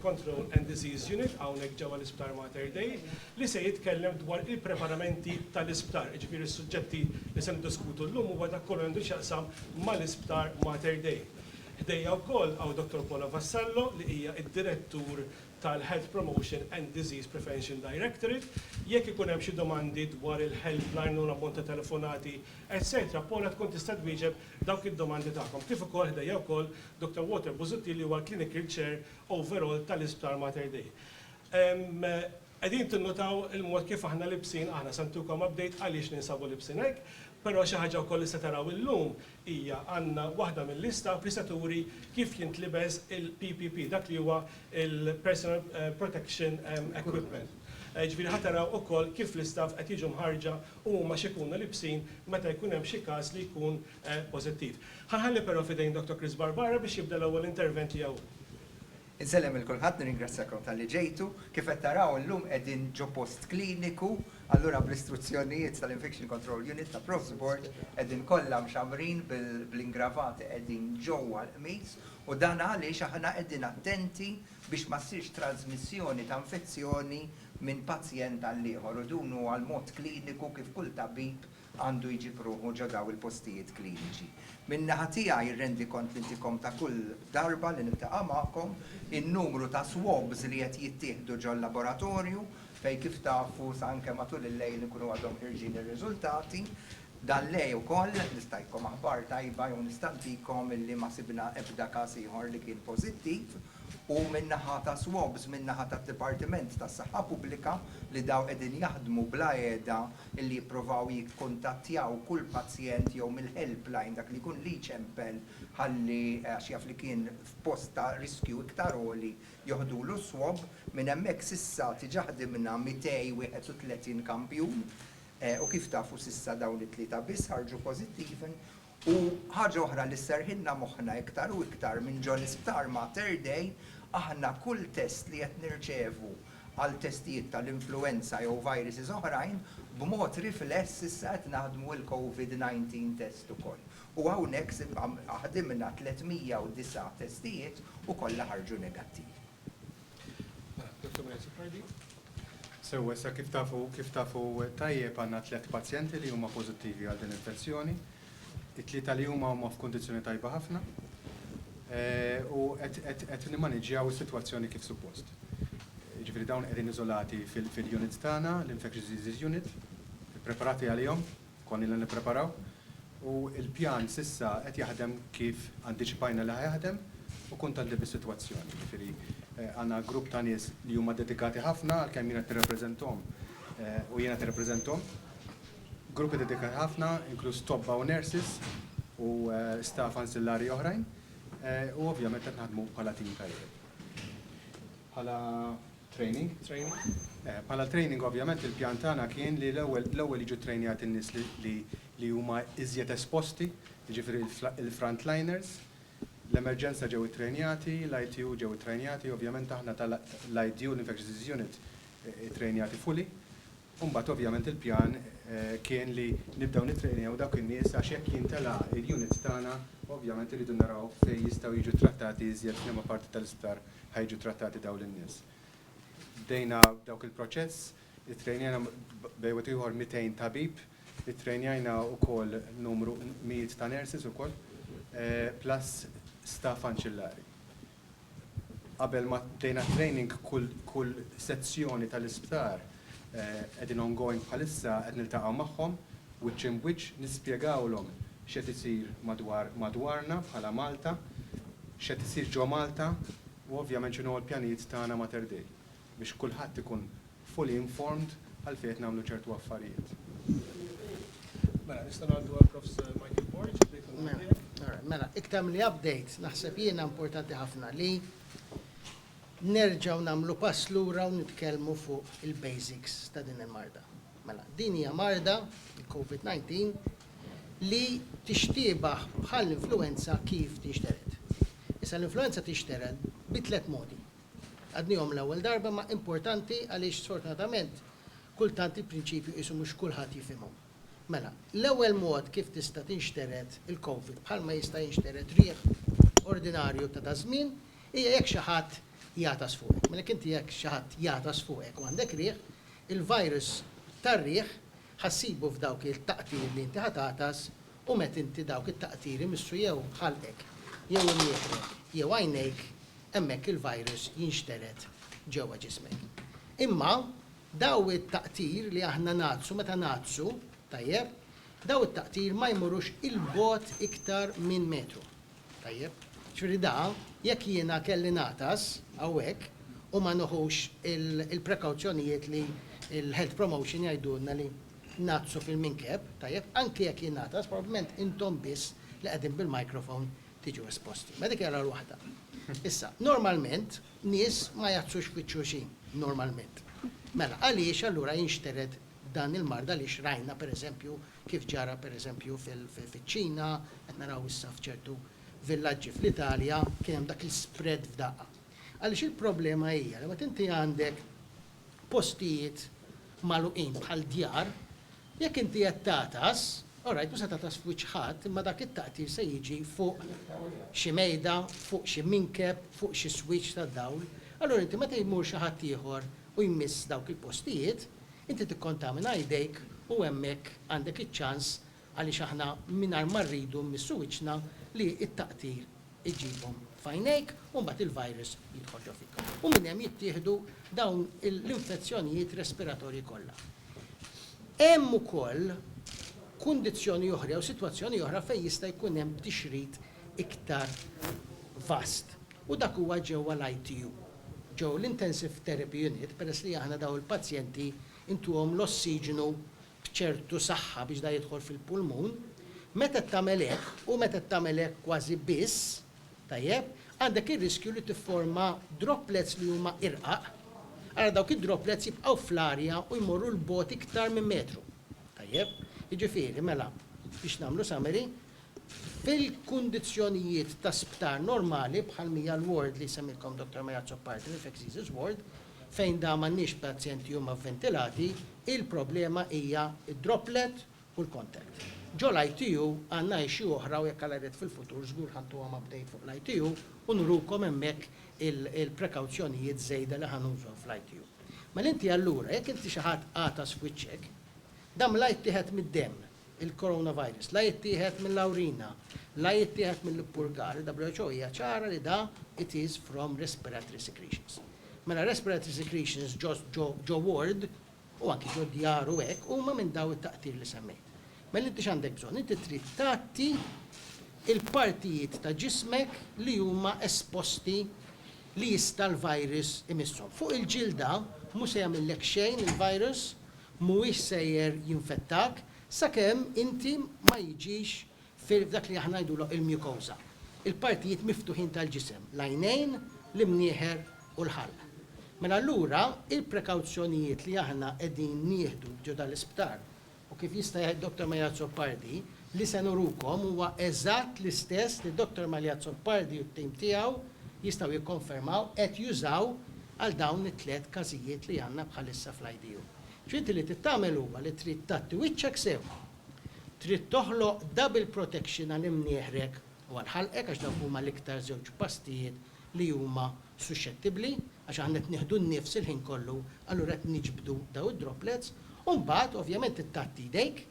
Control and Disease Unit hawnhekk ġewwa l-Isptar Mater Dei li se jitkellem dwar il-preparamenti tal-isptar. Jiġifieri s-suġġetti li se niddiskutu llum huwa dak kollu li għandu x'jaqsam mal-Isptar Mater Dei. Ħdejja wkoll hawn Dottor Paula Vassallo li hija d-Direttur tal-Health Promotion and Disease Prevention Directorate. Jekk ikun hemm xi domandi dwar il-helpline u l-ammont ta' telefonati etc. Paula tkun tista' twieġeb dawk id-domandi tagħkom, kif ukoll ħdejja wkoll Dottor Walter Busuttil li huwa l-Clinical Chair Overall tal-Isptar Mater Dei. Qegħdin tinnutaw il-mod kif aħna libsin, aħna se ntukom update għaliex ninsabu libsin hekk, però xi ħaġa wkoll li se taraw illum hija għandna waħda mill-istaff li se turi kif jintlibes il-PPP, dak li huwa l-Personal Protection Equipment. Jiġifieri ħa taraw ukoll kif l-istaff qed jiġu mħarrġa u huma x'ikunu libsin meta jkun hemm xi każ li jkun pożittiv. Ħa nħalli però f'idejn Dottor Chris Barbara biex jibda l-ewwel intervent tiegħu hu. Insellem lil kulħadd, nirringrazzjakom talli ġejtu. Kif qed taraw illum qegħdin ġo post kliniku, allura bl-istruzzjonijiet tal-Infection Control Unit ta' Profsbourg qegħdin kollha mxammrin bl-ingravati qegħdin ġewwa l-qmiż u dan għaliex aħna qegħdin attenti biex ma ssirx trażmissjoni ta' infezzjoni minn pazjent għal ieħor u dun huwa l-mod kliniku kif kull tabib għandu jġib ruħu ġo daw il-postijiet kliniċi. Minn naħa tiegħi rrendi kont liltikom ta' kull darba li niltaqa' magħkom, in-numru ta' swabs li qed jittieħdu ġol-laboratorju fejn kif tafu sa anke matul il-lejl ikunu għadhom ħirġin ir-riżultati, Dan l-għe ukoll nistgħidkom aħbar tajba jew nista' ntikom illi ma sibna ebda każ ieħor li kien pożittiv u min-naħa ta' swabs min-naħa tad-Dipartiment tas-Saħħa Pubblika li daw qegħdin jaħdmu bla għeda illi jippruvaw jikkuntattjaw kull pazjent jew mill-helpline dak li jkun li jċempel ħalli għax jaf li kien f'post ta' riskju iktar għoli joħdulu s-swab. Minn hemmhekk s'issa diġà ħdimna 231 kampjun. U kif tafu s'issa dawn it-tlieta biss ħarġu pożittivi. U ħaġa oħra li sserħilna moħħna iktar u iktar minn ġol-isptar Mater Dei, aħna kull test li qed nirċevu għal testijiet tal-influwenza jew viruses oħrajn, b'mod rifless issa qed naħdmu il-Covid 19 test ukoll. U hawnhekk ħdimna 309 testijiet u kollha ħarġu negattivi. Sew issa kif tafu kif tafu tajjeb għandna tliet pazjenti li huma pożittivi għal din l-infezzjoni. It-tlieta li huma huma f'kundizzjoni tajba ħafna u qed nimmaniġġjaw is-sitwazzjoni kif suppost. Jiġifieri dawn qegħdin iżolati fil-unit tagħna, l-infectious disease unit, ippreparati għalihom. Konni ilna nippreparaw u l-pjan s'issa qed jaħdem kif antiċipajna li ħa jaħdem u kuntenti bis-sitwazzjoni. Jiġifieri għandna grupp ta' nies li huma dedikati ħafna għalkemm jien qed nirrappreżenthom u jiena qed irrappreżenthom. Gruppi dedikati ħafna, inkluż tobba u nurses u staff anċillari oħrajn u ovvjament qed naħdmu bħala tim tajjeb. Bħala training? Training. Bħala training ovvjament il-pjan tagħna kien li l-ewwel l-ewwel jiġu ttrejnjati n-nies li li li huma iżjed esposti, jiġifieri l-frontliners. L-emerġenza ġew ittrejnjati, l-ITU ġew ittrejnjati, ovvjament aħna tal-IDU, l-Infectious Disease Unit, ittrejnjati fully. U mbagħad ovvjament il-pjan kien li nibdew nittrejnew dawk in-nies għax jekk jintela' il-unit tagħna ovvjament irridu naraw fejn jistgħu jiġu ttrattati iżjed, f'liema parti tal-isptar ħa jiġu ttrattati dawn in-nies. Bdejna dawk il-proċess, ittrejnejna bejn wieħed u ieħor 200 tabib, ittrejnjajna wkoll numru mijiet ta' nurses ukoll, plus staff anċillari. Qabel ma bdejna t-training kull sezzjoni tal-isptar qegħdin ongoing bħalissa qed niltaqgħu magħhom wiċċ imb wiċċ nispjegawlhom x'qed isir madwar madwarna bħala Malta, x'qed isir ġo Malta u ovvjament x'inhuma l-pjanijiet tagħna Mater Dei biex kulħadd ikun fully informed għalfejn qed nagħmlu ċertu affarijiet. Mela, nistgħu ngħaddu għal Prof. Michael Borg, Mela, mela, iktar milli update, naħseb jiena importanti ħafna li nerġgħu nagħmlu pass lura u nitkellmu fuq il-basics ta' din il-marda. Mela, din hija marda, il-COVID-19, li tixtiebaħ bħal influenza kif tinxtered. Issa l-influenza tinxtered bi tliet modi. Għadnihom l-ewwel darba imma importanti għaliex sfortunatament kultant il-prinċipju qisu mhux kulħadd jifhimhom. Mela, l-ewwel mod kif tista' tinxtered il-Covid bħalma jista' jinxtered riħ ordinarju ta' daż-żmien hija jekk xi ħadd jagħtas fuqek. Mela jekk inti jekk xi ħadd jagħtas fuqek u għandek riħ, il-virus tar-riħ ħa ssibu f'dawk it-taqtir li inti ħa tagħtas u meta inti dawk it-taqtir imissu jew ħalqek jew imnieħrek jew għajnejk hemmhekk il-virus jinxtered ġewwa ġismek. Imma dawn it-taqtir li aħna ngħaddsu meta ngħaddsu, tajjeb, dawn it-taqtir ma jmurux 'il bogħod iktar minn metru. Tajjeb? Ġifieri da, jekk jiena kelli ngħatas hawnhekk u ma neħux il-prekawzjonijiet li l-health promotion jgħidulna li ngħaddsu fil-minkeb, tajjeb, anki jekk jingħatas, probabbilment intom biss li qegħdin bil-microphone tiġu esposti. Medicare għal waħda. Issa, normalment, nies ma jgħaddxux f'wiċċ xulxin, normalment. Mela, għaliex allura jinxtered dan il-mard għaliex rajna, per eżempju, kif ġara, per eżempju, fiċ-Ċina, qed naraw issa f'ċertu villaġġi fl-Italja, kien hemm dak l-ispread f'daqqa. Għaliex il-problema hija li meta inti għandek postijiet magħluqin bħal djar, Jekk inti qed tagħtas, orajt mhux se tagħtas f'wiċċ ħadd, imma dak it-taqtir se jiġi fuq xi mejda, fuq xi minkeb, fuq xi switch tad-dawl. Allura inti meta jmur xi ħadd ieħor u jmiss dawk il-postijiet, inti tikkontamina jdejk u hemmhekk għandek iċ-ċans, għaliex aħna mingħajr ma rridu mmissu wiċċna, li t-taqtir iġibhom f'għajnejk u mbagħad il-virus jidħol ġo fik. U minn hemm jittieħdu dawn l-infezzjonijiet respiratorji kollha. Hemm ukoll kundizzjoni oħra jew sitwazzjoni oħra fejn jista' jkun hemm tixrid iktar vast u dak huwa ġewwa l-ITU, ġo l-Intensive Therapy Unit, peress li aħna dawn il-pazjenti intuhom l-ossiġnu b'ċertu saħħa biex dan jidħol fil-pulmun, meta qed tagħmel hekk, u meta qed tagħmel hekk kważi biss, tajjeb, għandek ir-riskju li tifforma droplets li huma irqaq, ara dawk id-droplets jibqgħu fl-arja u jmorru 'l bogħod iktar minn metru. Tajjeb? Jiġifieri, mela, biex nagħmlu summary, fil-kundizzjonijiet ta' sptar normali bħal mija l-ward li jsemmilkom Dottor Marie Azzopardi, l-infectious disease ward, Fejn da m'għandniex pazjenti huma vventilati, il-problema hija d-droplet u l-contact. Ġo l-ITU għandna issue oħra u jekk Alla jrid fil-futur żgur ħa ntuhom update fuq l-ITU u nurukom hemmhekk il-prekawzjonijiet żejda li ħa nużaw fl-ITU. Mela inti allura jekk inti xi ħadd għatas f'wiċċek, dan mla jittieħed mid-demm. il-coronavirus la jittieħed mill-awrina, la jittieħed mill-ippurgar, il-WHO hija ċara li da it is from respiratory secretions. Mela respiratory secretions ġo ward u anki ġo djar u hekk huma minn daw it-taqtir li semmejt. Mela inti x'għandek bżonn? Inti trid tgħatti il-partijiet ta' ġismek li huma esposti li jista' l-virus imisshom. Fuq il-ġilda mhu se jagħmillek xejn il-virus, mhuwiex sejjer jinfettak sakemm inti ma jiġix f'dak li aħna ngħidulu il-mucosa, il-partijiet miftuħin tal-ġisem, l-għajnejn, l-imnieħer u l-ħalq. Mela allura il-prekawzjonijiet li aħna qegħdin nieħdu ġo dal-isptar u kif jista' jgħid Dottor Marie Azzopardi, Li se nurukom huwa eżatt l-istess li Dottor Maljazzo Lpardi u t-tim tiegħu jistgħu jikkonfermaw qed jużaw għal dawn it-tliet każijiet li għandna bħalissa fl-IDU. Ġifieri li trid tagħmel huwa li trid tgħatti wiċċek sew. Trid toħloq double protection għal imnieħrek u għal ħalqek għax dawk huma l-iktar żewġ pastijiet li huma suxxettibbli għax aħna qed nieħdu n-nifs il-ħin kollu allura qed niġbdu dawn id-droplets u mbagħad ovvjament trid tgħatti jdejk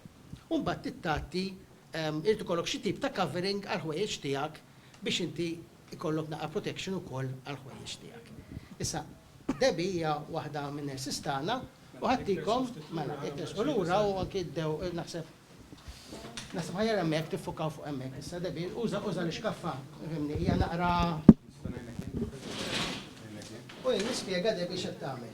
u mbagħad tittgħatti irid ikollok xi tip ta' covering għall-ħwejjeġ tiegħek biex inti jkollok naqra protection ukoll għall-ħwejjeġ tiegħek. Issa, Debbie hija waħda min-nurses tagħna u ħadtikom, mela, jekk tersqu lura u anki bdew naħseb naħseb aħjar hemmhekk tiffukaw fuq hemmhekk issa Debbie, uża uża l-ixkaffa, fhimni, hija naqra u jien nispjega Debbie x'qed tagħmel.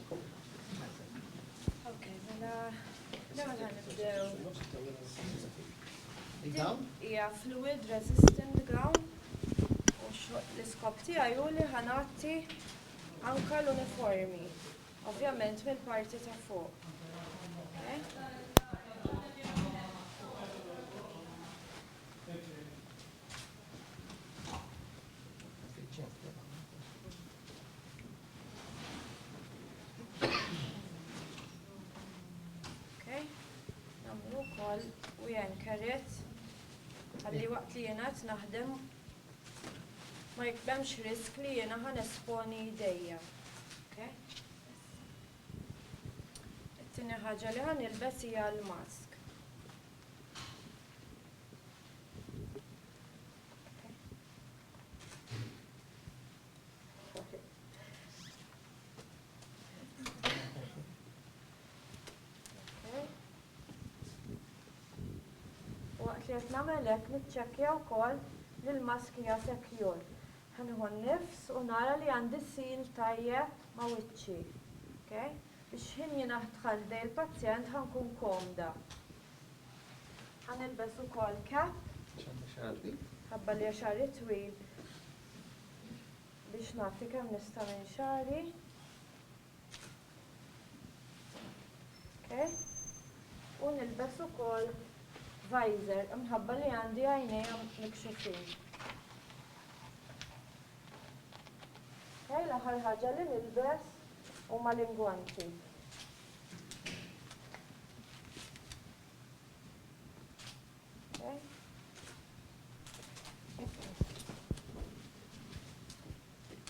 Dawn? Hija fluid resistant gown u l-iskop tiegħi hu li ħanatti anka l-uniformi. Ovvjament mill-parti ta' fuq. m'hemmx risk li jiena ħan esponi jdejja. It-tieni ħaġa li ħan ilbes hija l-mask. Waqt li qed nagħmel hekk niċċekkja wkoll li l-mask hija secure. Ħanieħu n-nifs u nara li għandi seal tajjeb ma' wiċċi. Okay? Biex ħin jien aħdħal ħdej il-pazjent ħankun komda. Ħanilbes ukoll cap. Ħabba li għax twil biex nagħti kemm nista' minn xagħri. Okay. U nilbes ukoll visor imħabba li għandi għajnejja mikxufin. Okay, l-aħħar ħaġa li nilbes huma l-ingwanti.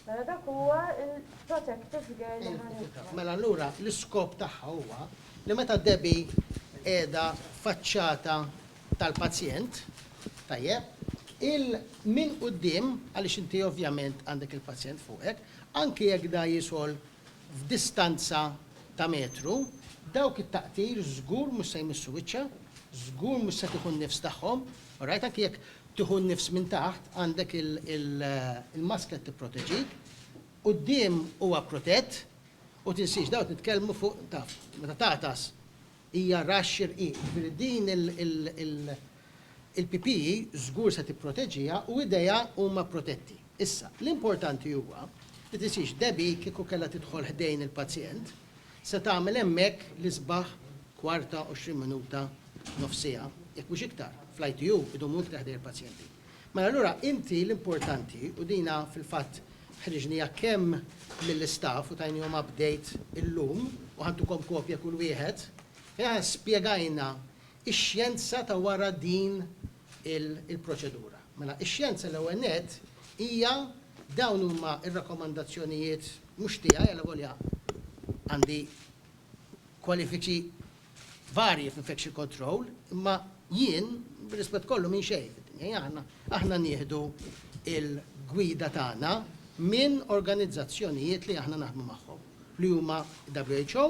Mela dak huwa il-protective gear li ħanitfa. Mela allura l-iskop tagħha huwa li meta Debbie qiegħda faċċata tal-pazjent, tajjeb, il minn quddiem għaliex inti ovvjament għandek il-pazjent fuqek, anki jekk da jisol f'distanza ta' metru, dawk it-taqtir żgur mhux se jmissu wiċċha, żgur mhux se tieħu n-nifs tagħhom, orajt, anki jekk tieħu n-nifs minn taħt għandek il-masklet tipproteġik, quddiem huwa protett, u tinsiex dawn qed nitkellmu fuq taf, meta tagħtas, Hija ra x-xirqin, jiġifieri din il-PPE żgur se tipproteġiha u idejha huma protetti. Issa, l-importanti huwa li tisirx Debbie kieku kellha tidħol ħdejn il-pazjent, se tagħmel hemmhekk l-isbaħ kwarta, għoxrin minuta, nofs siegħa, jekk mhux iktar, fl-ITU idumu iktar ħdejn il-pazjenti. Mela allura inti l-importanti, u dina fil-fatt ħriġnija kemm mill-istaff u tajnihom update illum u ħadtukom kopja kull wieħed, fejn aħna spjegajna x-xjenza ta' wara din il-proċedura. Mela x-xjenza l-ewwel nett hija dawn huma r-rakkomandazzjonijiet mhux tiegħi, allavolja għandi kwalifiċi varji fl-infection control, imma jien, bir-rispett kollu, minn xejn fid-dinja jagħna, aħna nieħdu l-gwida tagħna minn organizzazzjonijiet li aħna naħdmu magħhom, li huma WHO,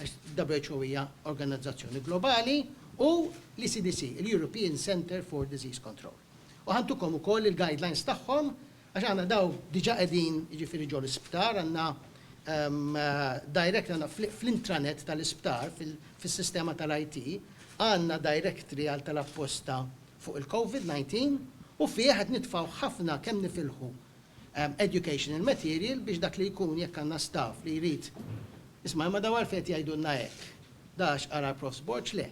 għax WHO hija organizzazzjoni globali, u l-ECDC, il-European Centre for Disease Control. U ħa ntukom ukoll il-guidelines tagħhom Għax aħna daw diġà qegħdin, jiġifieri ġo l-isptar, għandna direct fl-intranet tal-isptar, fis-sistema tal-IT, għandna directory għal tal-apposta fuq il-Covid 19 u fih qed nitfgħu ħafna kemm nifilħu educational material biex dak li jkun jekk għandna staff li jrid, isma' imma daw għalfejn qed jgħidulna hekk? Dax qara l-Profs Borg? Le.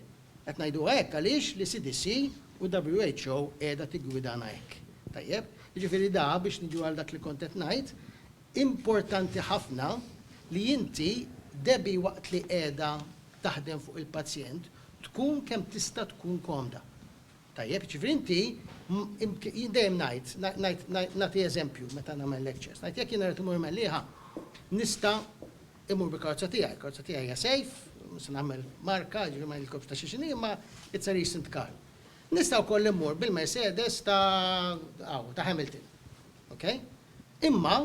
Qed ngħiduha hekk għaliex l-ECDC u WHO qiegħda tiggwidana hekk. Tajjeb? Jiġifieri da, biex niġu għal dak li kont qed ngħid, importanti ħafna li inti, Debbie waqt li qiegħda taħdem fuq il-pazjent, tkun kemm tista' tkun komda. Tajjeb? Jiġifieri inti, jien dejjem ngħid, ngħid, nagħti eżempju meta nagħmel lectures, ngħid jekk jiena rrid immur Mellieħa, nista' Immur bil-karozza tiegħi, il-karozza tiegħi hija sejf, mhux se nagħmel marka, jiġifieri ma ngħidilkomx ta' xi x'inhi, imma it's a recent car. Nista' wkoll immur bil-Mercedes ta' hawn, ta' Hamilton. Okay? Imma,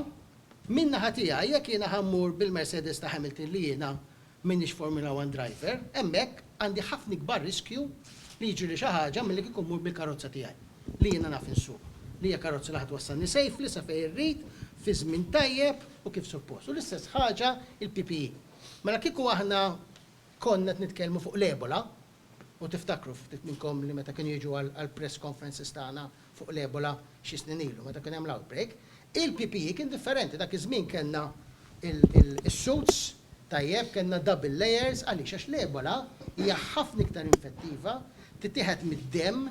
min-naħa tiegħi, jekk jiena ħa mmur bil-Mercedes ta' Hamilton li jiena m'iniex Formula One driver, hemmhekk għandi ħafna ikbar riskju li jiġrili xi ħaġa milli kieku mmur bil-karozza tiegħi, li jiena naf insuq, li hija karozza li ħa twassalni safely sa fejn irrid, fi żmien tajjeb, u kif suppost. U l-istess ħaġa il-PPE. Mela kieku aħna konna qed nitkellmu fuq l-Ebola, u tiftakru ftit minnkom li meta kienu jiġu għall-press conferences tagħna fuq l-Ebola xi snin ilu meta kien hemm l-outbreak, il-PPE kien differenti. Dak iż-żmien kellna is-suits tajjeb, kellna double layers, għaliex? Għax l-Ebola hija ħafna iktar infettiva, titieħed mid-demm,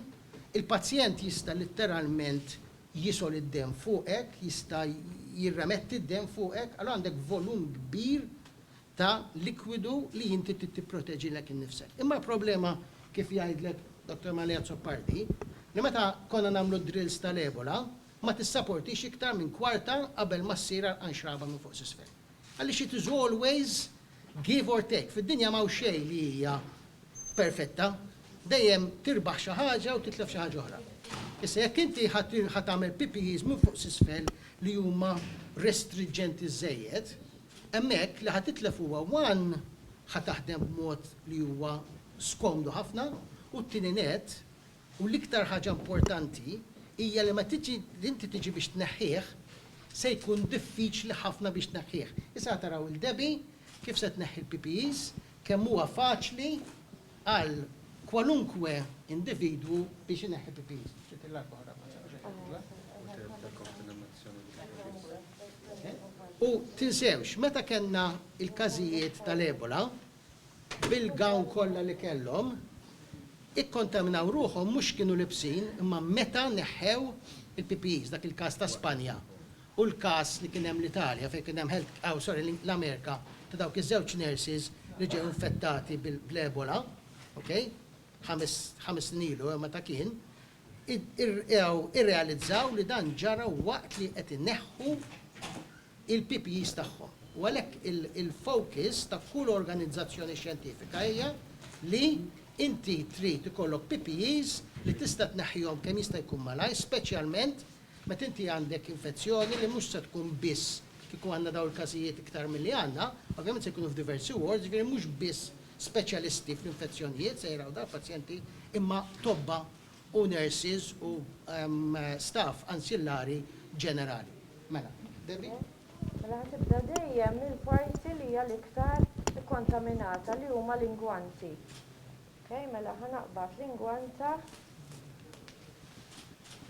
il-pazjent jista' litteralment jisol id-demm fuqek, jista' jirremetti d-demm fuqek, allura għandek volum kbir ta' likwidu li inti trid tipproteġilek innifsek. Imma l-problema, kif jgħidlek Dottor Malli Azzopardi, li meta konna nagħmlu d-drills tal-Ebola, ma tissaportix iktar minn kwarta qabel ma ssir għarqan xraba minn fuq s'isfel. Għaliex it is always Give or take, fid-dinja m'hawn xejn li hija perfetta, dejjem tirbaħ xi ħaġa u titlef xi ħaġa oħra. Issa jekk inti ħa tagħmel PPEs minn fuq s'isfel li huma restriġġenti żżejjed, hemmhekk li ħa titlef huwa one ħa taħdem b'mod li huwa skomdu ħafna u t-tieni nett U l-iktar ħaġa importanti hija li meta tiġi li inti tiġi biex tneħħih, se jkun diffiċli ħafna biex tneħħih. Issa ħa taraw 'il Debbie kif se tneħħi l-PPEs, kemm huwa faċli għal kwalunkwe individwu biex ineħħi PPEs. U tinsewx, meta kellna l-każijiet tal-Ebola, bil-gown kollha li kellhom, ikkontaminaw ruħhom mhux kienu libsin imma meta neħħew il-PPEs, dak il-każ ta' Spanja u l-każ li kien hemm l-Italja fejn kien hemm health, aw sorry l-Amerika ta' dawk iż-żewġ nurses li ġew infettati bl-Ebola, ok, ħames snin ilu, meta kien, irrealizzaw li dan ġara waqt li qed ineħħu l-PPEs tagħhom u għalhekk il-focus ta' kull organizzazzjoni xjentifika hija li inti trid ikollok PPEs li tista' tneħħihom kemm jista' jkun malajr, speċjalment Meta inti għandek infezzjoni li mhux se tkun biss kieku għandna dawn il-każijiet iktar milli għandna, ovvjament se jkunu f'diversi wards, jiġifieri mhux biss speċjalisti fl-infezzjonijiet se jraw dal-pazjenti imma tobba u nurses u staff ansillari ġenerali. Mela, Debbie? Mela ħa tibda dejjem mill-parti li hija l-iktar ikkontaminata li huma l-ingwanti. Okay, mela ħa naqbad l-ingwanta.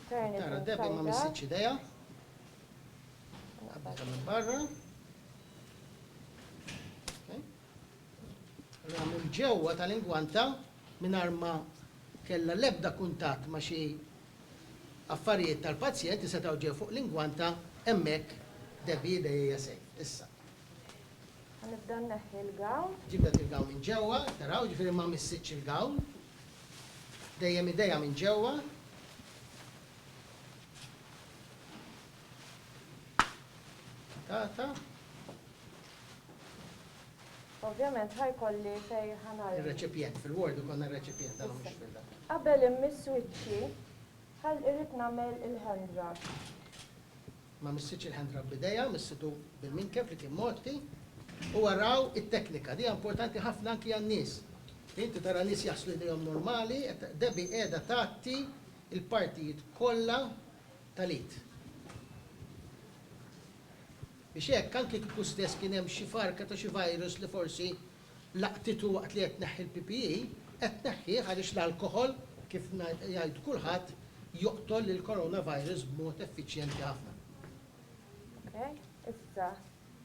Turn it Tara, Debbie ma inside out. missitx idejha. Qabbilha minn barra. Okay. Allura minn ġewwa tal-ingwanta mingħajr ma kellha l-ebda kuntatt ma' xi affarijiet tal-pazjent li setgħu ġew fuq l-ingwanta hemmhekk Debbie idejha hija safe. Issa. Ħa nibda nneħħi l-gown. Ġib dak il-gown minn ġewwa, taraw, jiġifieri ma missitx il-gown. Dejjem idejha minn ġewwa. Tata. Ovvjament ħa jkolli fejn ħa nagħlaq. Ir-reċipjent, fil-ward ikollna r-reċipjent tagħna mhux fil-da. Qabel immiss wiċċi, ħa irrid nagħmel il-hand rub. Ma missitx il-ħendra b'idejha, missitu bil-minkeb li kien mgħotti. U araw it-teknika, di importanti ħafna anki għan-nies. Inti tara nies jaħslu jdejhom normali, Debbie qiegħda tgħatti l-partijiet kollha tal-id. Biex hekk, anki kieku stess kien hemm xi farka ta' xi virus li forsi Laqtitu waqt li qed tneħħi l-PPE, qed tneħħih għaliex l-alkoħol, kif jgħid kulħadd, joqtol lill-coronavirus b'mod effiċjenti ħafna. Ok, issa,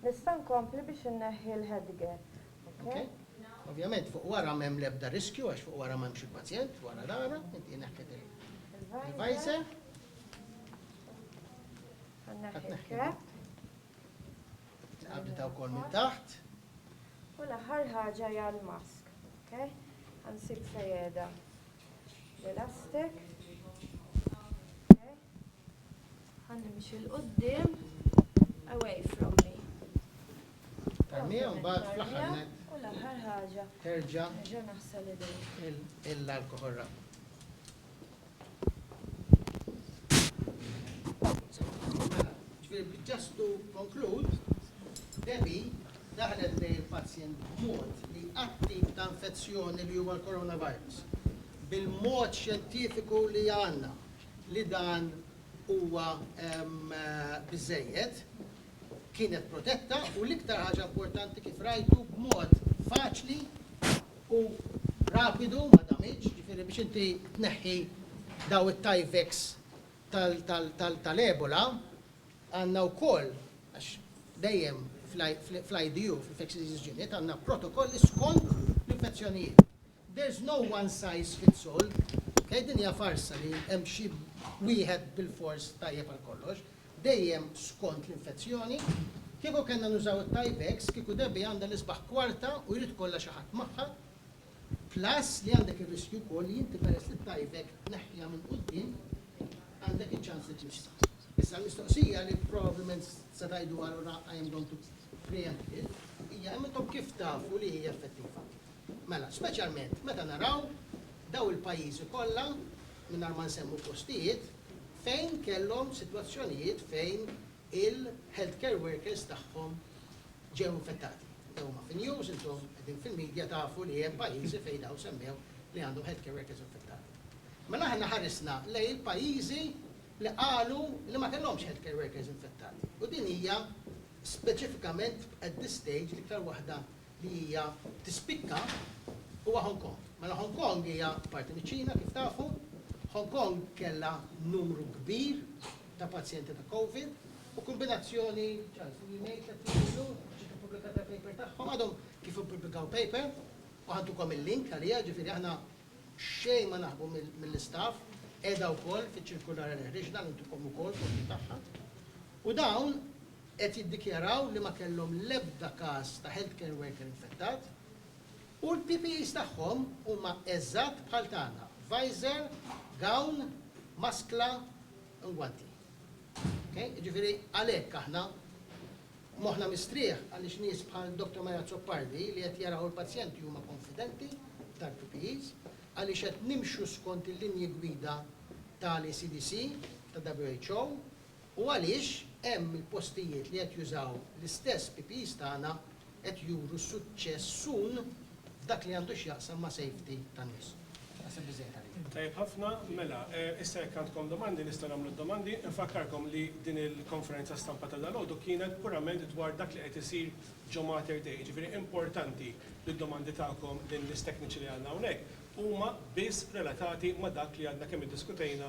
nista' nkompli biex inneħħi l-headgear, ok? Ok. Ovvjament fuq wara m'hemm l-ebda riskju għax fuq wara m'hemmx il-pazjent, wara l-għara, inti neħħejt il-visor. Ħa nneħħi l-cap. Tqabbditha wkoll minn taħt. U l-aħħar ħaġa hija l-mask, ok? Ħansib fejjeda l-elastik. Ħannimxi l-qoddim, away from me. Tarmija mbagħad fl-aħħar net. U l-aħħar ħaġa. Terġa'. Nerġa' naħsel idejja. Il-alkoħol rab. Just to conclude, Debbie daħlet lejn il-pazjent b'mod li għatti ta' infezzjoni li huwa l-coronavirus. Bil-mod xjentifiku li għandna li dan huwa ehm, biżejjed, kienet protetta u l-iktar ħaġa importanti kif rajtu b'mod faċli u rapidu ma damiġ, jiġifieri biex inti tneħħi dawn it-Tyvek tal-Ebola għandna wkoll għax dejjem fl-IDU, fl-Infectious Diseases Unit, għandna protokolli skont l-infezzjonijiet. There's no one size fits all, ok, din hija farsa li hemm xi wieħed bilfors tajjeb għal kollox, dejjem skont l-infezzjoni. Kieku kellna nużaw it-Tyvex, kieku Debbie għandha l-isbaħ kwarta u jrid ikollha xi ħadd magħha, plus li għandek ir-riskju wkoll li inti peress li t-Tyvek tneħħiha minn quddiem, għandek iċ-ċans li tmissha. Issa l-mistoqsija li probablement se tgħiduha allura I am going to preempt it, hija imma intom kif tafu li hija effettiva? Mela, speċjalment meta naraw dawn il-pajjiżi kollha, mingħajr ma nsemmu postijiet, fejn kellhom sitwazzjonijiet fejn il-healthcare workers tagħhom ġew infettati. Dawn huma fin-news, intom qegħdin fil-media tafu li hemm pajjiżi fejn dawn semmew li għandhom healthcare workers infettati. Mela aħna ħarisna lejn il-pajjiżi li qalu li ma kellhomx healthcare workers infettati. U din hija speċifikament at this stage l-iktar waħda li hija tispikka huwa Hong Kong. Mela Hong Kong hija parti miċ-Ċina kif tafu. Hong Kong kellha numru kbir ta' pazjenti ta' Covid u kombinazzjoni, Charles, li ngħid tliet snin ilu ġiet ippubblikata l-paper tagħhom, għadhom kif ippubblikaw paper u ħantukom il-link għaliha, ġifieri aħna xejn ma naħbu mill-istaff, qiegħda wkoll fiċ-ċirkulari li ħriġna li ntukom ukoll kopji tagħha. U dawn, qed jiddikjaraw li ma kellhom l-ebda każ ta' healthcare worker infettat u l-PPEs tagħhom huma eżatt bħal tagħna, visor, gown, maskla, ngwanti. Jiġifieri għalhekk aħna moħħna mistrieħ għaliex nies bħal Dottor Mary Azzopardi li qed jaraw il-pazjenti huma konfidenti tal-PPEs għaliex qed nimxu skont il-linji gwida tal-ECDC, tal-WHO, U għaliex hemm il-postijiet li qed jużaw l-istess PPEs tagħna qed juru suċċess sun f'dak li għandu x'jaqsam ma' safety tan-nies. Naħseb biżżejjed għalija. Tajjeb ħafna, mela issa jekk għandkom domandi nistgħu nagħmlu d-domandi. Infakkarkom li din il-konferenza stampa ta' dalgħodu kienet purament dwar dak li qed isir ġo Mater Dei, jiġifieri importanti li d-domandi tagħkom lin-nies tekniċi li għandna hawnhekk huma biss relatati ma' dak li għadna kemm iddiskutejna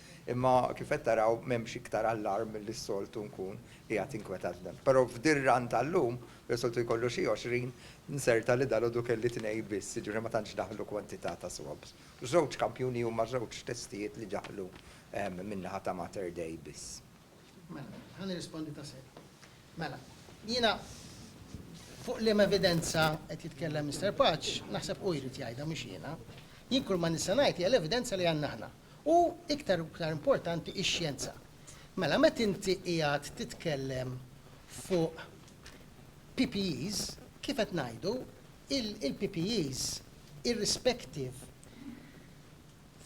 Imma kif qed taraw m'hemmx iktar allarm milli s-soltu nkun qiegħed inkwetat b'dan. Però f'dir-run tal-lum, fejn soltu jkollu xi għoxrin, nzerta li dalgħodu kelli tnejn biss, jiġifieri ma tantx daħlu kwantità ta' swabs. Żewġ kampjuni huma żewġ testijiet li daħlu min-naħa ta' Mater Dei biss. Mela, ħa nirrispondi ta' sew. Mela, jiena fuq liema evidenza qed jitkellem Mister Paċ, naħseb hu jrid jgħidha mhux jiena. Jien kull ma nista' ngħid hija l-evidenza li għandna aħna. U iktar u iktar importanti ix-xjenza. Mela met inti qiegħed titkellem fuq PPEs, kif qed ngħidu, il-PPEs irrispective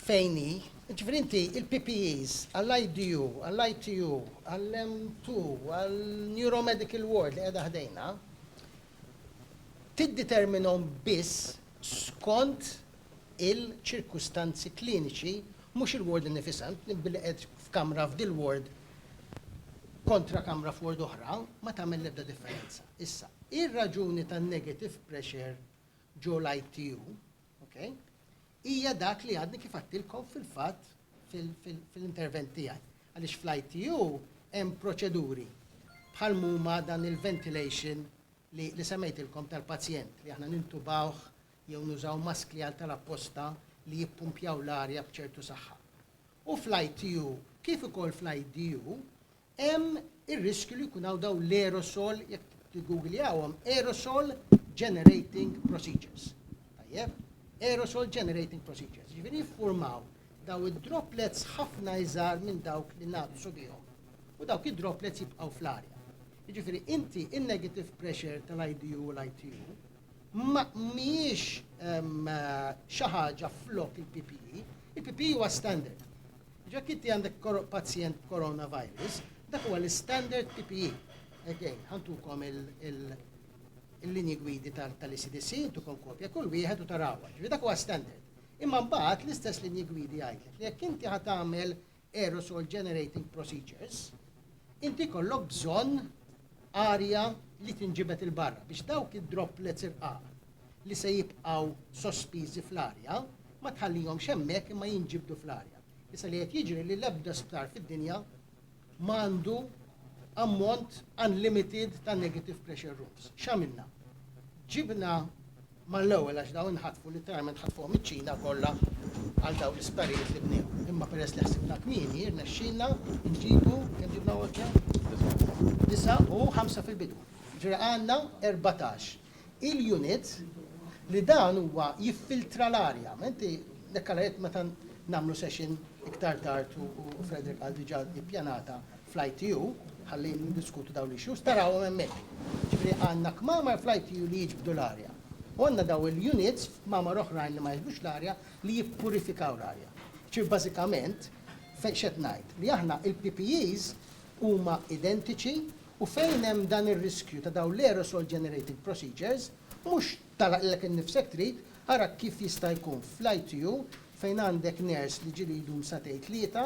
fejn hi, jiġifieri inti il-PPEs għall-IDU, għall-ITU, għall-M2, għall-Neuromedical Ward li qiegħda ħdejna, tidditerminhom biss skont il-ċirkustanzi kliniċi, mhux il-ward innifisha, int billi qiegħed f'kamra f'dil ward kontra kamra f'ward oħra, ma tagħmel l-ebda differenza. Issa, ir-raġuni tan-negative pressure ġo l-ITU, ok, hija dak li għadni kif għadtilkom fil-fatt fil-intervent tiegħi. Għaliex fl-ITU hemm proċeduri bħal m'huma dan il-ventilation li li semmejtilkom tal-pazjent li aħna nintubawh jew nużaw maskli għal tal apposta li jippumpjaw l-arja b'ċertu saħħa. U fl-ITU kif ukoll fl-IDU hemm ir-riskju li jkun hawn dawn l-aerosol jekk tiggugljawhom aerosol generating procedures. Tajjeb? Aerosol generating procedures. Ġifieri jiffurmaw daw id-droplets ħafna iżgħar minn dawk li nagħdu subihom. U dawk id-droplets jibqgħu fl-arja. Jiġifieri inti in-negative pressure tal-IDU u l-ITU ma mhijiex xi ħaġa flok il-PPE, il-PPE huwa standard. Jekk inti għandek pazjent b'coronavirus, dak huwa l-standard PPE. Again, ħantukom il-linji gwidi tal-ECDC, intukom kopja kull wieħed u tarawha. Ġifieri dak huwa standard. Imma mbagħad l-istess linji gwidi jgħidlek li jekk inti ħad tagħmel aerosol generating procedures, inti jkollok bżonn arja li tinġibed 'il barra biex dawk id-droplets irqaq li se jibqgħu sospiżi fl-arja ma tħallihomx hemmhekk imma jinġibdu fl-arja. Issa li qed jiġri li l-ebda sptar fid-dinja m'għandu ammont unlimited ta' negative pressure rooms. X'għamilna? Ġibna Mal-ewwel għax dawn inħatfu, litteralment ħatfuhom iċ-Ċina kollha għal dawn l-isptarijiet li bnew. Imma peress li ħsibna kmieni, rnexxielna nġibu, kemm ġibna Walter? Disa' u ħamsa fil-bidu. Ġifieri għandna erbatax il-unit li dan huwa jiffiltra l-arja. Ma inti hekk għala jekk meta nagħmlu session iktar tard u Frederick qal diġà hi ppjanata fl-ITU, ħalli niddiskutu dawn l-issues, tarawhom hemmhekk. Ġifieri għandna kmamar fl-ITU li jiġbdu l-arja. U għandna dawn il-units f'kmamar oħrajn li ma jiġbdux l-arja li jippurifikaw l-arja. Ġifieri bażikament fejn x'qed ngħid? Li aħna l-PPEs huma identiċi u fejn hemm dan ir-riskju ta' dawn l-aerosol generating procedures, mhux tagħlaq lilek innifsek trid, ara kif jista' jkun fl-ITU fejn għandek nurse li ġieli jdum sagħtejn tlieta,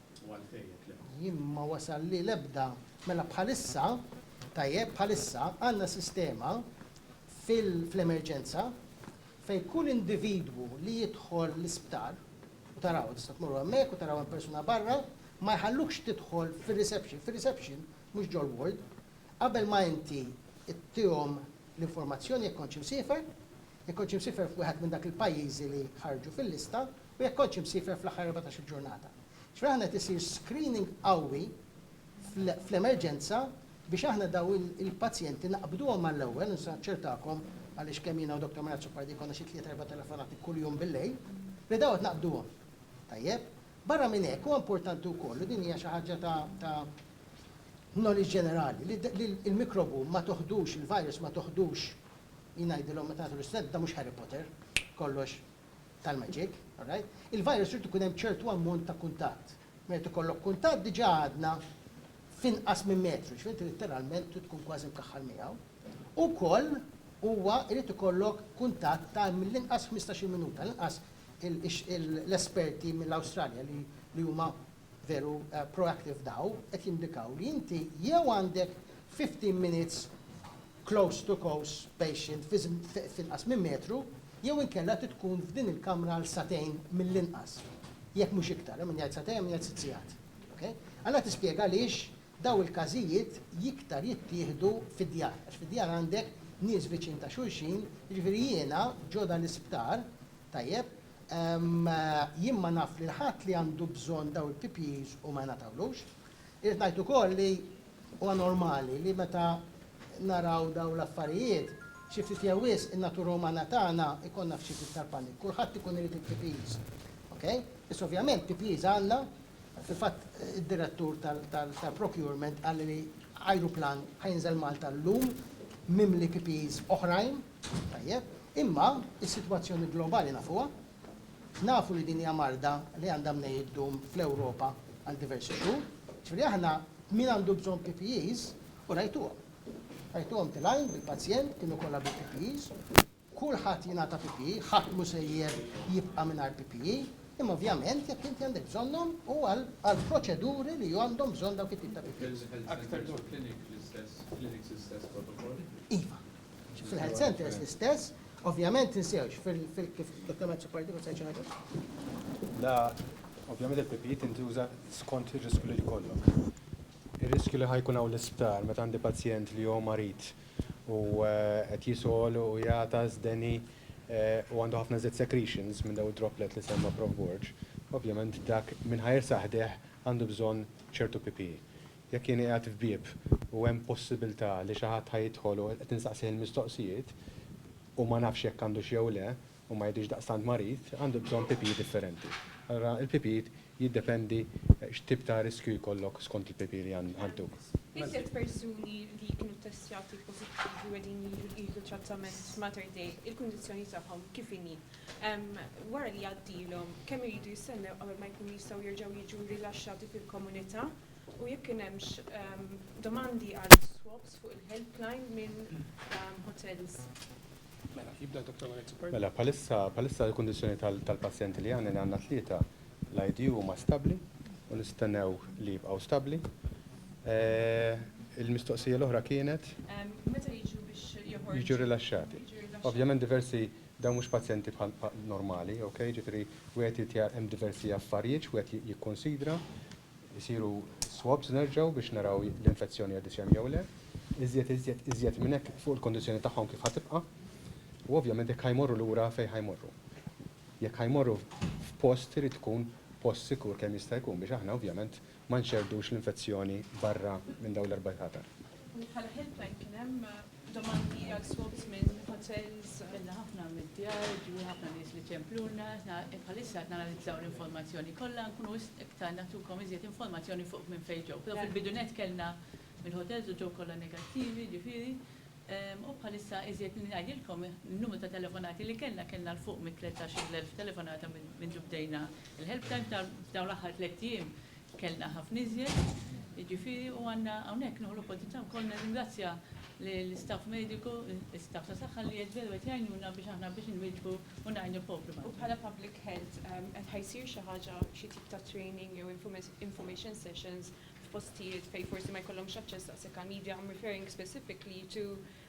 u għalfejn jekk le. Jien ma wasalli l-ebda, mela bħalissa, tajjeb, bħalissa għandna sistema fl-emerġenza fejn kull individwu li jidħol l-isptar, u taraw, tista' tmorru hemmhekk u taraw hemm persuna barra, ma jħallukx tidħol fir-reception, fir-reception, mhux ġol-ward, qabel ma inti ttihom l-informazzjoni jekk kontx imsiefer, jekk kontx imsiefer f'wieħed minn dak il-pajjiżi li ħarġu fil-lista, u jekk kontx imsiefer fl-aħħar erbatax-il ġurnata. Ġifieri aħna qed isir screening qawwi fl-emerġenza biex aħna dawn il-pazjenti naqbduhom mal-ewwel, u nista' naċċertakom, għaliex kemm jiena u Dottor Murat Zupardi jkollna xi tliet erba' telefonati kuljum bil-lejl, li dawn qed naqbduhom. Tajjeb? Barra minn hekk huwa importanti wkoll, u din hija xi ħaġa ta' knowledge ġenerali, li l-mikrobu ma toħdux, il-virus ma toħdux, jien ngħidilhom meta nagħtu l-istudenti, dan mhux Harry Potter, kollox, tal-maġik, alright, il-virus irid ikun hemm ċertu ammont ta' kuntatt. Meta ikollok kuntatt diġà għadna f'inqas minn metru, ġifieri inti litteralment trid tkun kważi mkaħħal miegħu. U wkoll huwa jrid ikollok kuntatt ta' mill-inqas ħmistax-il minuta, għall-inqas l-esperti mill-Awstralja li huma veru proactive daw qed jindikaw li inti jew għandek fifteen minutes close to cose patient f'inqas minn metru jew inkella trid tkun f'din il-kamra għal sagħtejn mill-inqas, jekk mhux iktar, hemm min jgħid sagħtejn hemm min jgħid sitt sigħat. Ok? Anna tispjega għaliex daw il-każijiet jiktar jittieħdu fid-djar, għax fid-djar għandek nies viċin ta' xulxin, jiġifieri jiena ġo dan l-isptar, tajjeb, Jien ma naf lil ħadd li għandu bżonn dawn il-PPEs u ma jingħatawlux. Irrid ngħid ukoll li huwa normali li meta naraw dawn l-affarijiet, xi ftit jew wisq, in-natura umana tagħna jkollna f'xi ftit tal-paniku. Kulħadd ikun irid il-PPEs. Okej? Biss ovvjament PPEs għandna, fil-fatt id-direttur tal-procurement qalli li ajruplan ħa jinżel Malta llum mimli PPEs oħrajn. Tajjeb, imma s-sitwazzjoni globali nafuha. Nafu li din hija marda li għandha mnejn iddum fl-Ewropa għal diversi xhur. Ġifieri aħna min għandu bżonn PPEs, u rajtuhom. Rajtuhom tilgħin bil-pazjent, kienu kollha bil-PPEs. Kulħadd jingħata PPE, ħadd mhu sejjer jibqa' mingħajr PPE. Imma ovvjament jekk inti għandek bżonnhom hu għal proċeduri li għandhom bżonn dawk it-tip ta' PPEs. Iva. Fil-health centers l-istess, ovvjament tinsewx fil-dokumenti supportivi se ngħidu. La, ovvjament il-PPE tintuża skont ir-riskju li jkollok. Ir-riskju li ħajkun hawn l-isptar meta għandi pazjent li hu marid u qed jisgħol u jagħtas deni u għandu ħafna żied secretions minn dawn id-droplet li semma Prof. Borg, ovvjament dak min ħa jersaħ ħdejh għandu bżonn ċertu PPE. Jekk jien qiegħed f'bieb u hemm possibiltà li xi ħadd ħa jidħol u qed insaqsih il-mistoqsijiet u ma nafx jekk għandux jew le u ma jidhirx daqstant marid, għandu bżonn PPE differenti. Allura il-PPE jiddependi x'tip ta' riskju jkollok skont il-PPE li għanduk. Iżjed persuni li jkunu ttestjati pożittivi u qegħdin jieħdu trattament f'Mater Dei, il-kundizzjoni tagħhom kif inhi? Wara li jgħaddilhom, kemm iridu jistennew qabel ma jkunu jistgħu jerġgħu jiġu rilaxxati fil-komunità? u jekk kien hemmx domandi għal swaps fuq il-helpline minn hotels. Mela, jibda Dottor Maurizio Perna. Mela, bħalissa, bħalissa l-kundizzjoni tal-pazjenti li għandna li għandna tlieta l-IDU huma stabbli u nistennew li jibqgħu stabbli. Il-mistoqsija l-oħra kienet? Meta jiġu biex joħorġu. Jiġu rilaxxati. Ovvjament diversi dawn mhux pazjenti bħal normali, okay, jiġifieri wieħed irid hemm diversi affarijiet x'wieħed jikkunsidra. Isiru swabs nerġgħu biex naraw l-infezzjoni għaddiet x'hemm jew le. Iżjed, iżjed, iżjed minn hekk fuq il-kondizzjoni tagħhom kif ħa tibqa'. U ovvjament jekk ħa jmorru lura fejn ħa jmorru. Jekk ħa jmorru f'post irid tkun post sikur kemm jista' jkun biex aħna ovvjament ma nxerrdux l-infezzjoni barra minn dawn l-erba' tatar. Bħala helpline kien hemm Domandi għal spokesman hotels. Għamilna ħafna mid-djar, ġu ħafna nies li ċempluna, bħalissa qed nanalizzaw l-informazzjoni kollha nkunu iktar nagħtukom iżjed informazzjoni fuq minn fejn ġew. Però fil-bidu nett kellna mill-hotels u ġew kollha negattivi, ġifieri, u bħalissa iżjed milli ngħidilkom in-numru ta' telefonati li kellna, kellna 'l fuq mit-tlettax-il elf telefonata mindu bdejna l-helpline f'dawn l-aħħar tlett ijiem. Kellna ħafna iżjed, jiġifieri, u għandna hawnhekk nieħu l-opportunità wkoll nirringrazzja lill-istaff mediku, l-istaff ta' saħħa li qed veru qed jgħinuna biex aħna biex inwieġbu u ngħinu l-poplu. U bħala public health, qed ħa jsir xi ħaġa, xi tip ta' training jew information sessions f'postijiet fejn forsi ma jkollhomx aċċess daqshekk għall-media, I'm referring specifically to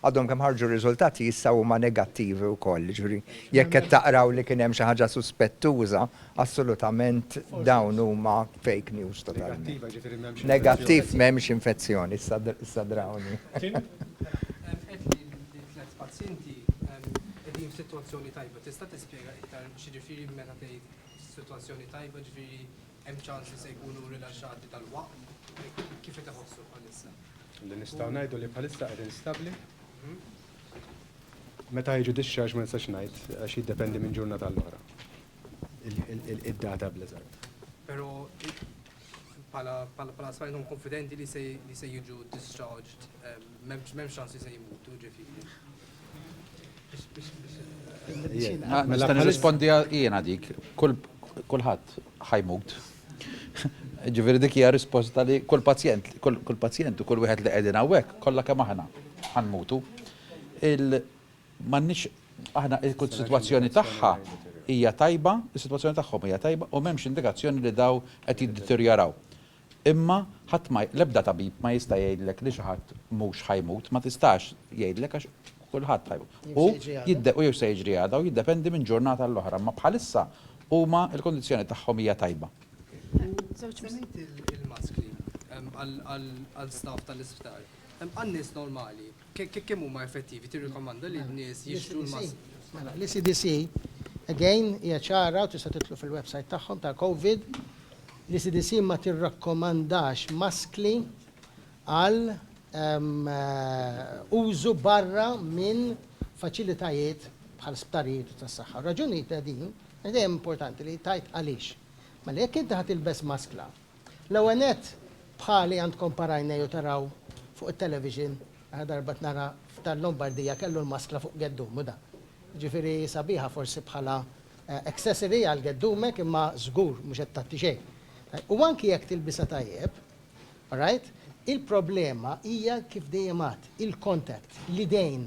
Għadhom kemm ħarġu r-riżultati issa huma negattivi wkoll, jiġifieri jekk qed taqraw li kien hemm xi ħaġa suspettuża, assolutament dawn huma fake news totalment. Negattiv m'hemmx infezzjoni. Negattiv m'hemmx infezzjoni, issa drawni. Tim? Hemm qed li t-tliet pazjenti qegħdin f'sitwazzjoni tajba. Tista' tispjega iktar x'jiġifieri meta tgħid sitwazzjoni tajba, jiġifieri Hemm ċans li se jkunu rilaxxati dalwaqt? Kif qed iħossu bħalissa? Li nistgħu ngħidu li bħalissa qegħdin stabbli. Meta jiġu discharge ma nistax ngħid għax jiddependi minn ġurnata għal oħra. Id-data bl-eżatt. Però bħala spajnum konfidenti li se jiġu discharged, m'hemmx ċans li se jmutu ġifieri. Mela nirrispondi jiena dik, kulħadd ħajmut. Ġifieri dik hija risposta li kull pazjent, kull pazjent u kull wieħed li qegħdin hawnhekk kollha kemm aħna ħanmutu. M'għandniex aħna il-sitwazzjoni tagħha hija tajba, is-sitwazzjoni tagħhom hija tajba u m'hemmx indikazzjoni li dawn qed jiddeterjoraw. Imma ħadd ma, l-ebda tabib ma jista' jgħidlek li xi ħadd mhux ħa jmut, ma tistax jgħidlek għax kulħadd ħa jmut. Jew se jiġri għada. U jew se jiġri għada u jiddependi minn ġurnata għall-oħra, imma bħalissa huma l-kundizzjoni tagħhom hija tajba. Semmejt il-maskli għall-staff tal-isptar. Għan-nies normali, Kemm huma effettivi tirrikomanda li n-nies jixtru l-maskri? Mela, l-ECDC, again, hija ċara u tistgħu tidħlu fil-websajt tagħhom tal-Covid, l-ECDC ma tirrakkomandax maskli għal użu barra minn faċilitajiet bħal sptarijiet u tas-saħħa. Ir-raġuni ta' din, dejjem importanti li tgħid għaliex. Mela jekk inti ħa tilbes maskla L-ewwel nett, bħali għandkom parajnej u taraw fuq it-television, aħna darba qed nara f'tal-Lombardija kellu l-maskla fuq geddumu dan. Jiġifieri hi sabiħa forsi bħala accessory għal geddumek imma żgur mhux qed tgħatti xejn. U anki jekk tilbisha tajjeb, alright, il-problema hija kif dejjem għadt, il-contact, l-idejn.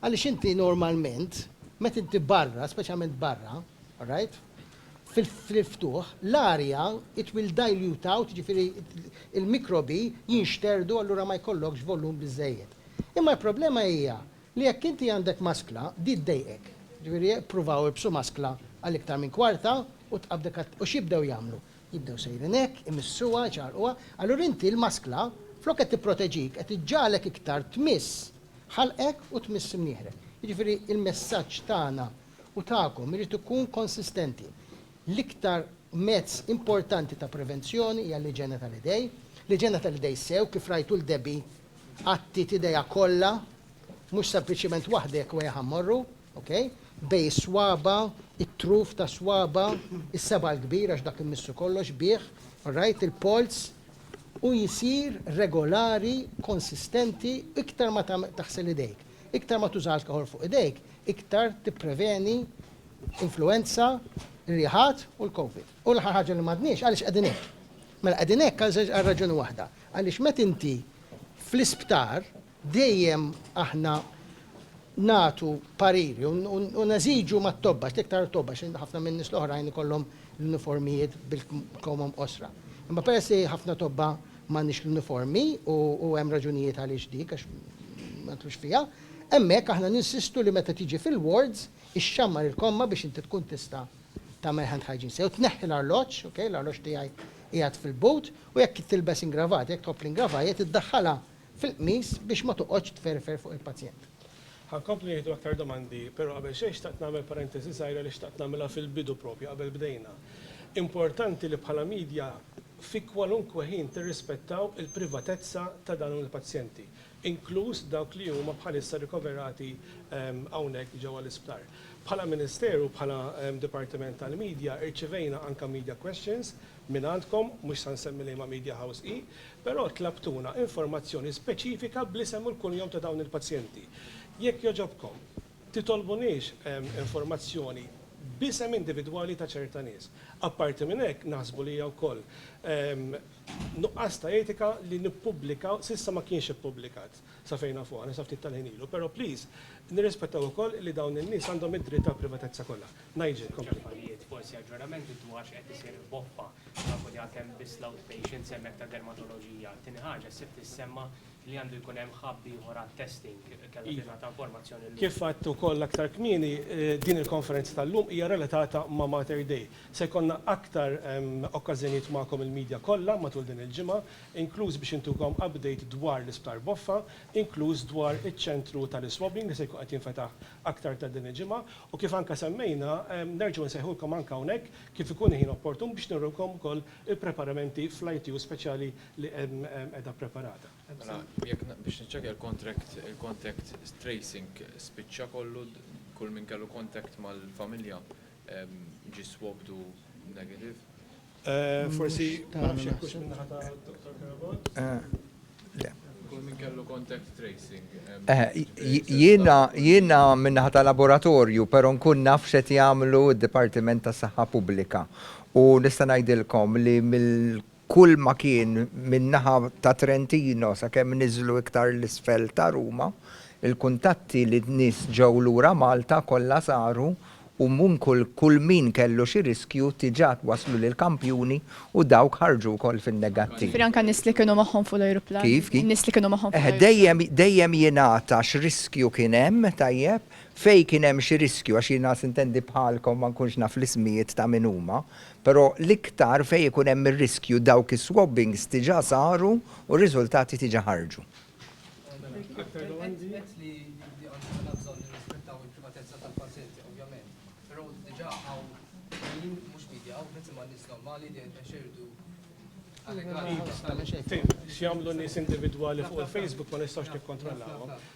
Għaliex inti normalment meta inti barra, speċjalment barra, alright, fil-ftuħ, l-arja, it will dilute out, jiġifieri l-mikrobi jinxterdu allura ma jkollokx volum biżżejjed. Imma l-problema hija li jekk inti għandek maskla, di ddejqek. Jiġifieri ippruvaw ilbsu maskla għal iktar minn kwarta u tqabdek għat u x'jibdew jagħmlu? Jibdew sejrin hekk, imissuha, iċarrquha, allura inti l-maskla flok qed tipproteġik qed iġġagħlek iktar tmiss ħalqek u tmiss imnieħrek. Jiġifieri l-messaġġ tagħna u tagħkom irid ikun konsistenti. L-iktar mezz importanti ta' prevenzjoni hija l-iġene tal-idej. L-iġene tal-idej sew kif rajtu 'l Debbie għattiet idejha kollha, mhux sempliċement waħda jekk wegħha mmorru, ok, bejn is-swaba', it-truf ta' swaba', is-seba' l-kbir għax dak immissu kollox bih, alright, il-polz, u jsir regolari, konsistenti, iktar ma taħsel idejk. Iktar ma tuża alkoħol fuq idejk, iktar tippreveni influwenza, riħat u l-Covid. U l-aħħar ħaġa li m'għadniex, għaliex qegħdin hekk? Mela qegħdin hekk għal żewġ għal raġuni waħda, għaliex meta inti fl-isptar dejjem aħna nagħtu pariri u neżiġu mat-tobba, l-iktar it-tobba għax ħafna min-nies l-oħrajn ikollhom l-uniformijiet bil-kmamhom qosra. Imma peress li ħafna tobba M'għandniex l-uniformi u hemm raġunijiet għaliex dik għax ma nidħlux fiha. Hemmhekk aħna ninsistu li meta tiġi fil-wards ixxammar il-komma biex inti tkun tista' tagħmel hand hygiene sew. Tneħħi l-arloġġ, ok, l-arloġġ tiegħi qiegħed fil-boot u jekk tilbes ingravata, jekk tħobb l-ingravajt, iddaħħalha fil-qmis biex ma toqgħodx tferfer fuq il-pazjent. Ħa nkomplu nieħdu aktar domandi, però qabel xejn xtaqt nagħmel parentesi żgħira li xtaqt nagħmilha fil-bidu proprju qabel bdejna. Importanti li bħala media fi kwalunkwe ħin tirrispettaw il-privatezza ta' dawn il-pazjenti, inkluż dawk li huma bħalissa rikoverati hawnhekk ġewwa l-isptar. Bħala Ministeru u bħala Dipartiment tal-Media irċivejna anke media questions mingħandkom, mhux sa nsemmi liema media house hi, però tlabtuna informazzjoni speċifika bl-isem u l-kunjom ta' dawn il-pazjenti. Jekk jogħġobkom. Titolbuniex informazzjoni b'isem individwali ta' ċerta nies. Apparti minn hekk, naħsbu li hija wkoll nuqqas ta' etika li nippubblikaw, s'issa ma kienx ippubblikat, sa fejn nafu aħna, sa ftit tal-ħin ilu, però please, nirrispettaw ukoll li dawn in-nies għandhom id-dritt għall-privatezza kollha. Nigel, kompli. Affarijiet, forsi aġġoramenti dwar x'qed isir f'Boffa. Nafu li għad hemm biss l-outpatients hemmhekk ta' dermatoloġija. Tieni ħaġa, s-sibt issemma li għandu jkun hemm hub ieħor għat-testing kellha tingħata informazzjoni llum. Kif għedt ukoll aktar kmieni, din il-konferenza tal-lum hija relatata ma' Mater Dei. Se jkollna aktar okkażjonijiet magħkom il-media kollha matul din il-ġimgħa, inkluż biex intukom update dwar l-Isptar Boffa, inkluż dwar iċ-ċentru tal-iswabbing li se jkun qed jinfetaħ aktar tard din il-ġimgħa, u kif anke semmejna, nerġgħu nsejħulkom anke hawnhekk kif ikun il-ħin opportun biex nurulkom ukoll il-preparamenti fl-ITU speċjali li hemm qiegħda ppreparata. Mela, jekk biex niċċekkja l-contract, il-contact tracing spiċċa kollu, kull min kellu contact mal-familja ġie swabbed u negative? Forsi ma nafx jekk hux min-naħa ta' Dottor Carabott. Le. Kull min kellu contact tracing. Jiena min-naħa ta' laboratorju, però nkun naf x'qed jagħmlu d-Dipartiment tas-Saħħa Pubblika. U nista' ngħidilkom li kull ma kien min-naħa ta' Trentino sakemm niżlu iktar 'l isfel ta' Ruma, il-kuntatti li n-nies ġew lura Malta kollha saru u minn kull kull min kellu xi riskju diġà twasslu lill-kampjuni u dawk ħarġu wkoll fin-negattiv. Ġifieri anke n-nies li kienu magħhom fuq l-ajruplan? Kif? Kif? In-nies li kienu magħhom fuq l-ajruplan? Eħe, dejjem dejjem jingħata x'riskju kien hemm, tajjeb, fejn kien hemm xi riskju, għax jiena sintendi bħalkom ma nkunx naf l-ismijiet ta' min huma, Però l-iktar fejn ikun hemm ir-riskju dawk is-swabbings diġà saru u r-riżultati diġà ħarġu.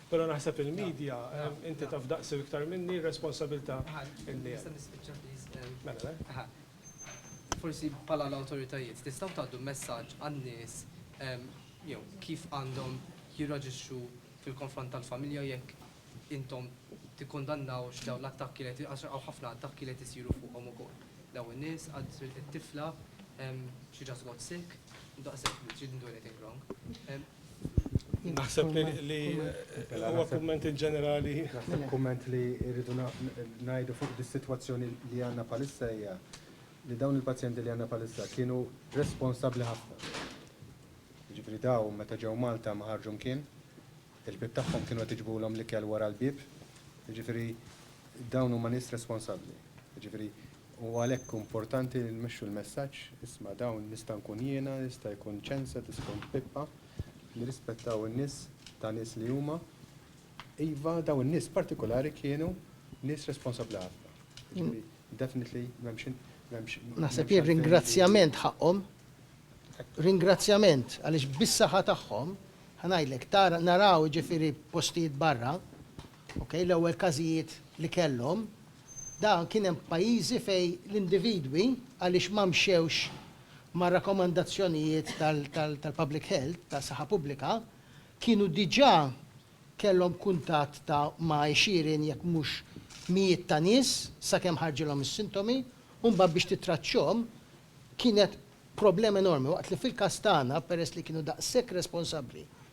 Però naħseb il-media, inti taf daqs u iktar minni r-responsabilità li hemm. Nista' nispiċċa please? Mela le. Aha. Forsi bħala l-awtoritajiet tistgħu tgħaddu messaġġ għan-nies jew kif għandhom jirraġixxu fil-konfront tal-familja jekk intom tikkundannawx dawn l-attakki li qed għax hawn ħafna attakki li qed isiru fuqhom ukoll. Dawn in-nies għad it-tifla she just got sick, daqshekk, she didn't do anything wrong. Naħseb li huwa kumment inġenerali. Naħseb kumment li rridu ngħidu fuq dis-sitwazzjoni li għandna bħalissa hija li dawn il-pazjenti li għandna bħalissa kienu responsabbli ħafna. Jiġifieri dawn meta ġew Malta ma ħarġu mkien, il-bieb tagħhom kienu qed iġibulhom l-ikel wara l-bieb, jiġifieri dawn huma nies responsabbli. Jiġifieri U għalhekk hu mportanti li nmexxu l-messaġġ, isma' dawn nista' nkun jiena, jista' jkun ċensa, tista' tkun Pippa, nirrispettaw in-nies ta' nies li huma. Iva, dawn in-nies partikulari kienu nies responsabbli ħafna. Jiġifieri, definitely m'hemmx in, m'hemmx. Naħseb jien ringrazzjament ħaqqhom, ringrazzjament għaliex bis-saħħa tagħhom, ħa ngħidlek, tara, naraw jiġifieri postijiet barra, Okej, l-ewwel każijiet li kellhom, dan kien hemm pajjiżi fejn l-individwi għaliex ma mxewx mar-rakkomandazzjonijiet tal-public health, tas-saħħa pubblika, kienu diġà kellhom kuntatt ta' ma' għexieren jekk mhux mijiet ta' nies sakemm ħarġilhom is-sintomi u mbagħad biex tittraċċhom kienet problema enormi waqt li fil-każ tagħna peress li kienu daqshekk responsabbli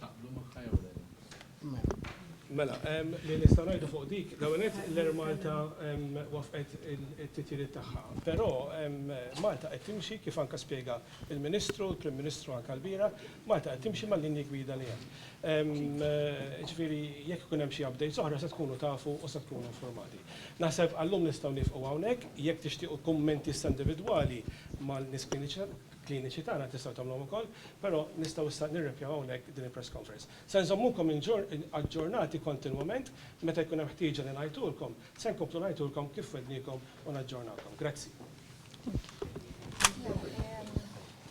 Taqblu magħha jew le? Mela, li nista' ngħidu fuq dik, l-ewwel l-Air Malta wafqet it-titjiriet tagħha. Però Malta qed timxi kif anke spjega l-Ministru, l-Prim Ministru anke l-bira, Malta qed timxi mal-linji gwida li hemm. Ġifieri jekk ikun hemm xi updates oħra se tkunu tafu u se tkunu informati. Naħseb għal-lum nistgħu nieqfu hawnhekk, jekk tixtiequ kummenti issa individwali mal-nies kliniċi. kliniċi tagħna tistgħu tagħmluhom ukoll, però nistgħu issa nirrepjaw hawnhekk din il-press conference. Se nżommukom aġġornati kontinwament, meta jkun hemm ħtieġa li ngħidulkom, se nkomplu ngħidulkom kif wegħdniekom u naġġornawkom. Grazzi.